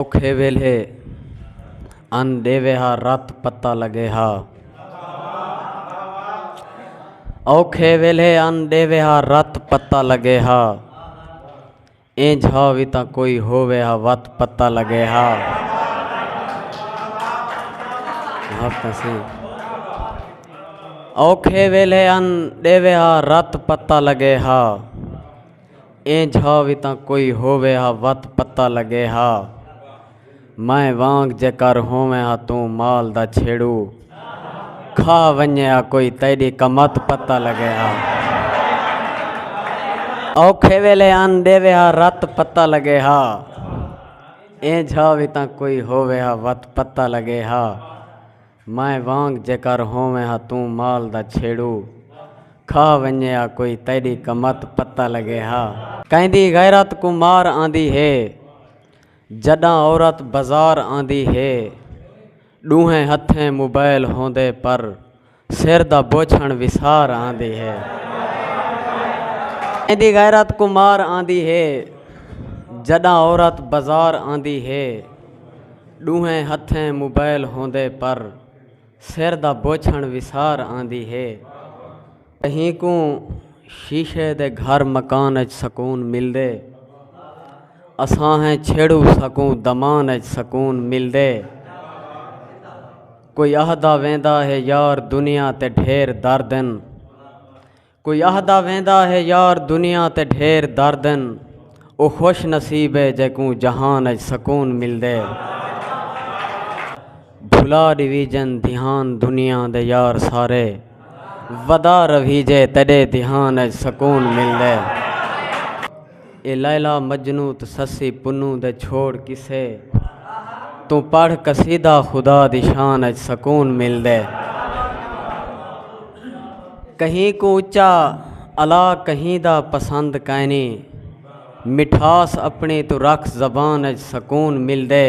اوکھے ویلھے ان ݙیوے ہا رت پتہ لڳے ہا اوکھے ویلھے ان ݙیوے ہا رت پتہ لڳے ہا اینج ہا وی تاں کوئی ہووے ہا وت پتہ لڳے ہا اوکھے ویلھے ان ݙیوے ہا رت پتہ لڳے ہا ایں جھا وی تاں کوئی ہووے ہا وت پتہ لگے ہا میں وانگ جے کر ہوویں ہا توں مال دا چھیڑو کھا ونجے ہا کوئی تیڈی کمت پتہ لگے ہا اوکھے ویلے ان ڈیوے ہا رت پتہ لگے ہا ایں جھا وی تاں کوئی ہووے ہا وت پتہ لگے ہا مائیں وانگ جیکر ہوویں ہا توں مال دا چھیڑو کھا ونجے ہا کوئی تیڈی کمت پتہ لگے ہا۔ کیندی غیرت کوں مار آندی ہے جڈاں عورت بزار آندی ہے ڈوہیں ہتھیں موبائل ہوندے پر سر دا بوچھن وسار آندی ہے کیندی غیرت کوں مار آندی ہے جڈاں عورت بزار آندی ہے۔ ݙوہیں ہتھیں موبائل ہوندے پر سر دا بوچھݨ وسار آندی ہے۔ کہیں کوں شیشے دے گھر مکان اچ سکون ملدے۔ اساہیں چھیڑو ساکوں دمان اچ سکون ملدے۔ کوئی آہدا ویندا ہے یار دنیا تے ڈھیر درد ہن۔ کوئی آہدا ویندا ہے یار دنیا تے ڈھیر درد ہن او خوش نصیب ہے جیکوں جہان اچ سکون ملدے بھلا ڈویجن دھیان دنیا دے یار سارے ودا رویجے تیڈے دھیان اچ سکون ملدے اے لیلی مجنوں تے سسی پنوں دے چھوڑ قصے توں پڑھ قصیدہ خدا دی شان اچ سکون ملدے کہیں کوں اچا الا کہیں دا پسند کائنی مٹھاس اپنی توں رکھ زبان اچ سکون ملدے۔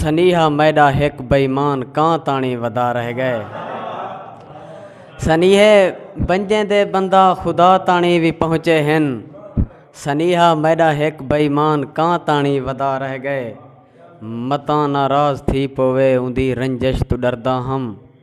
سنیہا میڈا ہک بئیمان کان تاݨی ودا رہ گئے سنیہے بنجیں دے بندہ خدا تاݨی وی پہنچے ہن سنیہا میڈا ہک بئیمان کان تاݨی ودا رہ گئے متاں ناراض تھی پوے اوندی رنجش تو ڈردا ہم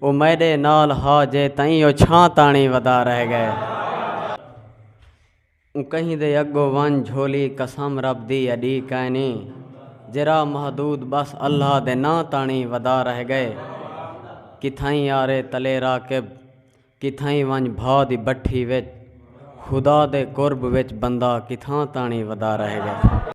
او میڈے نال ہا جے تئیں او چھاں تاݨی ودا رہ گئے اوں کہیں دے اگو ونج جھولی قسم رب دی اڈی کائنی جے راہ محدود بس اللہ دے ناں تاݨی ودا رہ گئے کتھائیں یارے تلے راکب کتھائیں ونج بھا دی بٹھی وچ خدا دے قرب وچ بندہ کتھاں تاݨی ودا رہ گئے۔